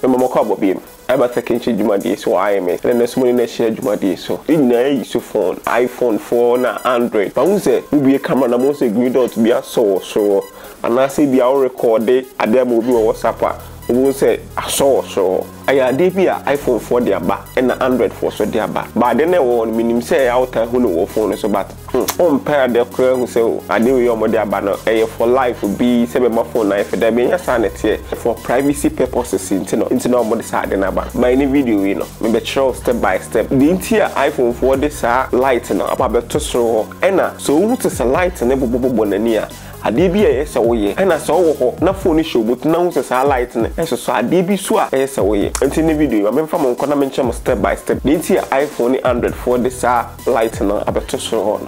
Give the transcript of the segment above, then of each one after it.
Mema mokɔ abɔbeam, ɛba sɛkɛnhyɛ dwumadie so wɔ IMS ɛna nɛsoma ne nɛhyia dwumadie so. Yɛn nyinaa yɛ so phone, iPhone foɔ na Android. Mahu sɛ wobue camera na mahu sɛ green dot bi asɔ wɔ soro hɔ. Anaasɛ ebia wo rekɔɔde adeɛ ama obi wɔ WhatsApp a, wobɛhu sɛ asɔ wɔ soro hɔ. Ɛyɛ adeɛ bi a iPhone foɔ de aba ɛna Android foɔ nso de aba. But adeɛ no a ɛwɔ hɔ no, menim sɛ ɛyɛ a wotaa hu no wɔ wo phone no so but. Wo mpɛ adeɛ koraa hu sɛ adeɛ wei a wɔn de aba no ɛyɛ for life bi sɛ bɛ ma phone ayɛ fɛ dabi ɛnyɛ saa na ɛteɛ for privacy purposes nti no nti na wɔn de saa adeɛ no aba no ma ɛne video wei no me bɛ kyerɛ wo step by step deɛ nti a iPhone foɔ de saa light no aba bɛ to soro hɔ ɛna sɛ wo hu te sɛ light no bobɔ bobɔ n'ani a adeɛ bi a ɛyɛ sɛ wo yɛ ɛna sɛ wo wɔ hɔ na phone no hyɛ wo bɔtu na hu sɛ saa light no ɛsosɔ adeɛ bi so a ɛyɛ sɛ wo yɛ nti ne video yi ma me nfa mo nkɔ na me nkyerɛ mo step by step deɛ nti a iPhone ne Android foɔ de saa Light no abɛto soro hɔ no.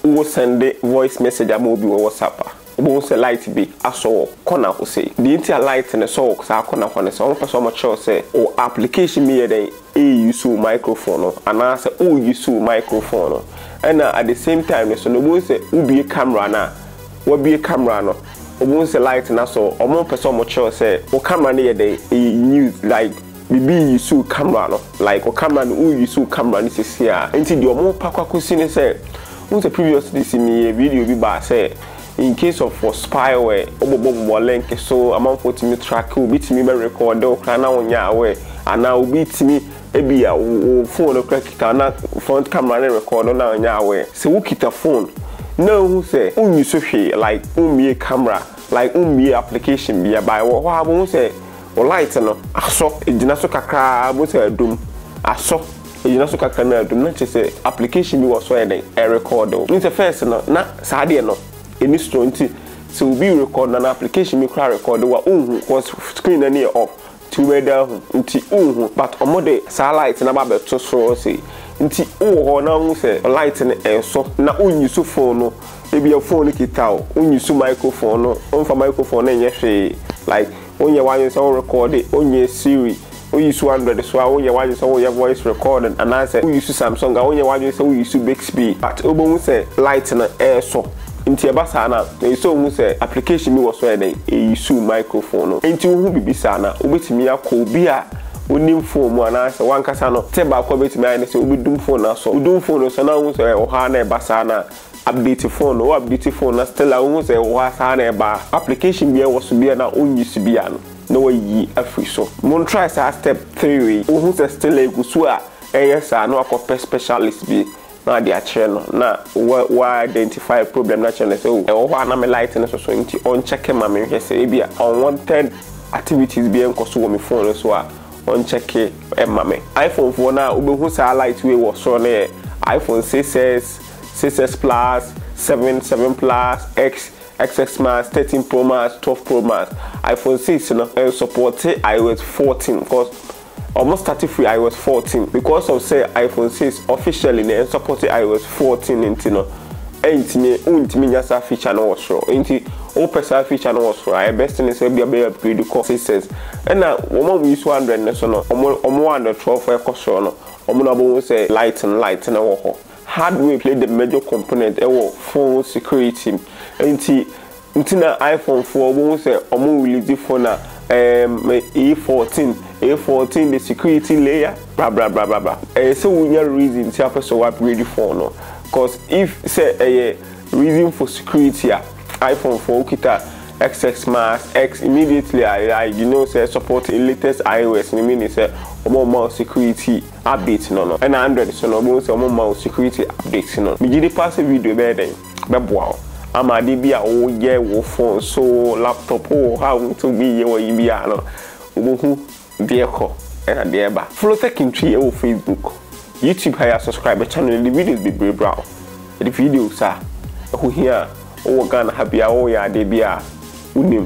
Wo sɛnde voice message ama obi wɔ WhatsApp a, wobɛhu sɛ light bi asɔ wɔ kɔna hɔ sei. Deɛ nti a light no sɔ wɔ saa kɔna hɔ no sɛ wɔpɛ sɛ wɔkyerɛ wo sɛ wo application no yɛ dɛn ɛɛuse wo microphone no anaa sɛ oouse wo microphone no ɛna at the same time no so no wobɛhu sɛ wobue camera no a wabue camera no wobɛhu sɛ light no asɔ ɔmo mpɛ sɛ ɔmo kyerɛw sɛ wo camera no yɛ dɛn ɛyɛ use like biribi use wo camera no like wo camera no oouse wo camera no sisi a nti deɛ ɔmo pa kɔ akɔsi ne sɛ wohu sɛ previously si meyɛɛ video bi baa sɛ In case of for spyware, wo bɔbɔ bobɔ link so, amanfoɔ tumi track wo, obi tumi bɛ record wo koraa na wo nyɛ aware, anaa obi tumi ebia wo phone no koraa kita na front camera no record wo na wo nyɛ aware. Sɛ wo kita phone na ohu sɛ wo nyi so hwee like wo mmie camera, like wo mmie application bia by wɔ hɔ a bohu sɛ wo light no asɔ, egyina so kakraa bohu sɛ adum asɔ. Egyina so kakra na adum na kyerɛ sɛ application bi wɔ so a ɛyɛ dɛn ɛrekɔɔde wo. Wonim sɛ first no na saa deɛ no ɛni strong nti sɛ obi rekɔɔde no anaa application bi koraa rekɔɔde wo a wonhu cos screen no ani yɛ off nti wobɛyɛ dɛn ahu nti wonhu but ɔmo de saa light no aba abɛto so sei nti wowɔ hɔ na wohu sɛ light no ɛresɔ na wonyi so phone no ebia phone no kita wo wonyi so microphone no womfa microphone no nyɛ hwee like Wonyɛ w'adwene sɛ wo rekɔɔde, wonyɛ Siri, wo use Android so a, wonyɛ w'adwene sɛ woyɛ voice recording, anaasɛ wo use Samsung a, wonyɛ w'adwene sɛ wo use Bixby, but wobɛhu sɛ light no ɛresɔ. Nti ɛba saa no a, ɛsɛ sɛ wohu sɛ application bi wɔ so a ɛyɛ dɛn, ɛyɛ use microphone no. Nti wohu biribi saa no a, wobɛtumi akɔ obi a onim phone mu anaasɛ w'ankasa no, tip baako a wobɛtumi ayɛ ne sɛ wobɛdum phone no asɔ. Wodum phone no sɔ na wohu sɛ ɛwɔ hɔ ara na ɛba saa no a, Update phone no, wo update phone na still a wohu sɛ hɔ a saa na ɛba a, application biara ɛwɔ so biara no a wonnyi so biara no na wɔayi afiri so. Mon try saa step three wei, wohu sɛ still a ɛgu so a ɛyɛ saa a na wakɔpɛ specialist bi na ade akyerɛ no na wa identify problem no akyerɛ no sɛ oh ɛwɔ hɔ a na me light no soso nti ɔnkyɛke ma me nhwɛ sɛ ebia unwanted activities biara nkɔ so wɔ me phone no so a ɔnkyɛke ma me. Iphone foɔ no a wobɛhu saa light wei wɔ soro no yɛ iPhone 6s, 6S Plus, 7, 7 Plus, X, XS Max, 13 Pro Max, 12 Pro Max. iPhone 6 no ɛnsɔpɔte iOS 14 cause wɔn start firi iOS 14 because of sɛ iPhone 6 officially na ɛnsɔpɔte iOS 14 nti no ɛntumi wontumi nya saa feature no wɔ soro nti wopɛ saa feature no wɔ soro a ɛbɛst ne sɛ bia bɛyɛ upgrade kɔ 6S ɛna wɔn a wɔyi so Android no so no wɔn wɔn Android 12 ɛkɔ soro no wɔn na wɔbɛhu sɛ light no light no wɔ hɔ. Hardware play the major component wɔ phone security mu nti nti na iPhone foɔ wohu sɛ ɔmo release phone a ɛɛm A14 A14 the security layer brabrabrabrabra ɛyɛ sɛ wonya reason nti a wopɛ sɛ wo upgrade phone no cause if sɛ ɛyɛ reason for security a iPhone foɔ wokita xx max x immediately a you know sɛ support latest iOS no meaning sɛ ɔmo mma wo security. update no no ɛna android so no wobɛhu sɛ ɔmo mma wo security update no megye di paa sɛ video bɛyɛ dɛn bɛboa wo ama ade bi a woyɛ wo phone so laptop wɔ hɔ a wontumi yɛ wɔyi biara no wobɛhu deɛ ɛkɔ ɛna deɛ ɛba follow Techintwi ɛwɔ facebook youtube ha yɛ subscribe channel yɛde videos bebree bra wo yɛde videos a ɛho hia a wowɔ Ghana ha biara woyɛ adeɛ biara wonim